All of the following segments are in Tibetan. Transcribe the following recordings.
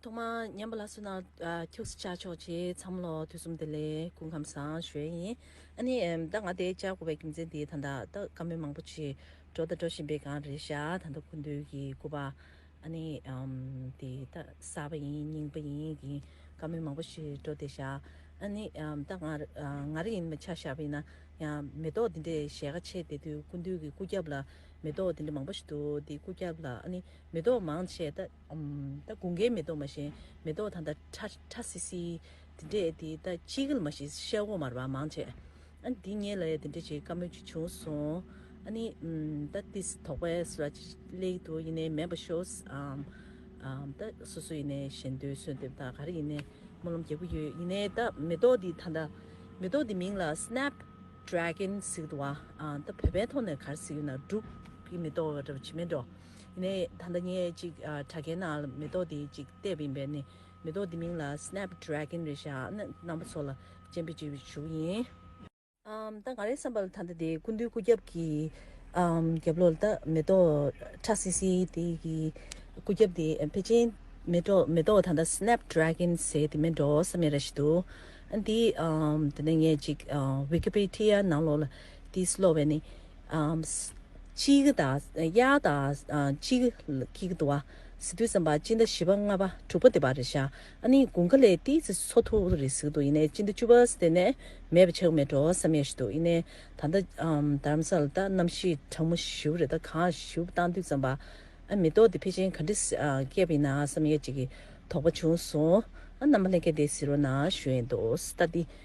ཐོག་མར་མཉམ་པ་ལ་སུན་སྣང་ཐུགས་སུ་ཆགས་ཆོག་ཅེས་འཚམ་བློ་ཐོས་གསུམ་བདེ་ལེགས་སྐུ་ཁམས་བཟང་ཞོལ་ཡིན། ཨ་ནི། ད་ང་དེ་བཅར་དགོས་པའི་རྒྱུ་མཚན་དེ་ད་ད་ལྟ་བཀའ་མོལ་མང་པོ་ཆེ་འགྲོ་དང་འགྲོ་བཞིན་པའི་སྒང་རེད་ཤག་ད་ལྟ་གུས་འདུད་ཀྱི་སྐུ་པར་ཨ་ནི། དེ་ད་གསར་པ་ཡིན་རྙིང་པ་ཡིན་གྱི་བཀའ་མོལ་མང་པོ་ཞིག་འགྲོ་བསྡད་ཤག་ཨ་ནི། ད་ང་ང་རེ་ཡིན་མི་ཆགས་ཤག་ཡིན་ན་ཡང་མེ་ཏོག་འདི་འདྲའི་ཞལ་ཁ་ཕྱེས་བསྡད་དུས་གུས་འདུད་ཀྱི་སྐུ་རྒྱབ་ལ་མེ་ཏོག་འདི་འདྲ་མང་པོ་ཞིག་འདུག་འདི་སྐུ་རྒྱབ་ལ་ཨ་ནི། མེ་ཏོག་མང་ཆེ། ད་དགུན་ཁའི་མེ་ཏོག་མ་བཞིན། མེ་ཏོག་དང་ཁྲ་ཁྲ་སིལ་སིལ། དེ་འདྲས་དེ་ད་ཅི་གིལ་མ་བཞིན་ཤ་བོ་མར་བ་མང་ཆེ། འདི་ངས་ལ་ཡ་དེ་འདྲས་བྱེད་དཀའ་མོད་ཅིག་བྱུང་སོང། ནི། ད་ཏི་སི་དོག་པའི་སུ་ར་ཅི་ལེགས་འདུག་ཡིན་ནའི་མེད་པ་ཤོས། ད་སུ་སུ་ཡིན་ནའི་ཞེ་འདོད་གསོལ་འདེབས་དང་ག་རེ་ཡིན་ནའི་སྨོན་ལམ་རྒྱག་གི་ཡོད་ཡིན་ནའི་ད་མེ་ཏོག་འདི་ད་ད་མེ་ཏོག་འདི་མིང་ལ Snap Dragon ཟིག་འདུག་བ། ད་བོད་པའི་ཐོག་ནས་ག་རེ་ཟིག་ཡོད་ན་འབྲུག་གི་མེ་ཏོག་ར་བྱི་མེད་འགྲོ། ནས་ད་ལྟ་ངས་ཅིག་དྲ་རྒྱའི་ནང་ལ་མེ་ཏོག་དེ་ཅིག་བལྟས་པ་ཡིན་པས་ནི་མེ་ཏོག་དེ་མིང་ལ Snap Dragon རེད་ཤག་ནི་རྣམ་པ་ཚོ་ལ་སྤྱན་འབུལ་བྱེད་ཞུ་བ་ཡིན། ད་ང་རའི་བསམ་པ་ལ་ད་ལྟ་དེ་ཀུན་འདུས་སྐུ་རྒྱབ་ཀྱི་རྒྱབ་ལོག་ལ་ད་མེ་ཏོག་ཁྲ་སིལ་སིལ་དེ་གི་སྐུ་རྒྱབ་དེ་ཕལ་ཆེན་མེ་ཏོག་ད་ལྟ Snap Dragon ཟེར་དེ་མེད་འགྲོ་ས་མེད་ར་ཞིག་འདུག་འདི་ད་ནས་ངས་ཅིག Wikipedia ནང་ལོག་ལ་དེ་ཤི་ལོག་པས་ནི། གཅིག་དང། གཡག་དང། གཅིག། ཀྱི། དུ་བ། ཟི་དུས་སམ། བཅིང་ད་བཞི་པ་ལྔ་པ་དྲུག་པ་དེ་བ་རེ་ཤ་ཨ་ནི་གུང་ཁ་ལེ་ཏི་ཚི་སོ་ཐུ་རི་ཟིག་དུ་ཡེ་ནས་བཅིང་ད་བཅུ་བ་སི་དེ་ནས་མེད་པ་ཆག་མེད་འགྲོ་བསམ་ཡས་ཤི་དུ་ཡེ་ནས་ད་ལྟ་དར་རམ་ས་ལ་ད་རྣམ་ཤི་དྲང་མོ་ཞིའུ་རེ་ད་གང་ཞིའུ་བཏང་དུས་ཙམ་པ་ཨ་མི་ཏོག་དེ་ཕེ་ཆེན་ག་འདྲི་སྐྱེས་པ་ཡིན་ན་བསམ་ཡས་ཅིག་གི་དོག་པ་བྱུང་སོང་ཨ་རྣམ་པ་ལྷན་རྒྱས་དེ་ཟི་རོ་ན་ཞུ་ཡས་འདུག་སི་ད་དི།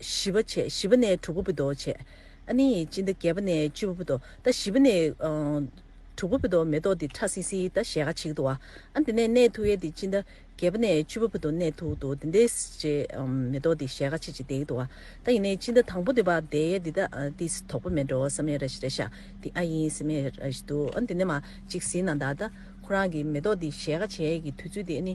བཞི་པ་བྱས་བཞི་པ་ནས་དྲུག་པ་བུ་དོ་བྱས། ཨ་ནི་ཡི་ཅི་ད་བརྒྱད་པ་ནས་བཅུ་པ་བུ་དོ་ད་བཞི་པ་ནས་དྲུག་པ་བུ་དོ་མེ་ཏོག་དི་ཁྲ་སི་སི་ད་ཞལ་ཁ་ཆིག་དུ་བ་ཨ་དེ་ནས་ནས་ཐུག་ཡ་དི་ཅི་ད་བརྒྱད་པ་ནས་བཅུ་པ་བུ་དོ་ནས་ཐུག་དུ་དེ་འདས་ཅི་མེ་ཏོག་དི་ཞལ་ཁ་ཆིག་ཅིག་དེག་དུ་བ་ད་ཡི་ནས་ཅི་ད་དང་པོ་དི་བ་དེ་ཡ་དི་ད་དི་སི་དོག་པོ་མེ་འགྲོ་ས་མེ་ར་ཤི་ར་ཤ་དི་ཨ་ཡིན་སི་མེ་ར་ཤི་དུ་ཨ་དེ་ནས་མ་ཅིག་སི་ན་ད་ད་ཁོ་རང་གི་མེ་ཏོག་དི་ཞལ་ཁ་ཆེ་གི་དུས་ཚོད་དི་ཨ་ནི།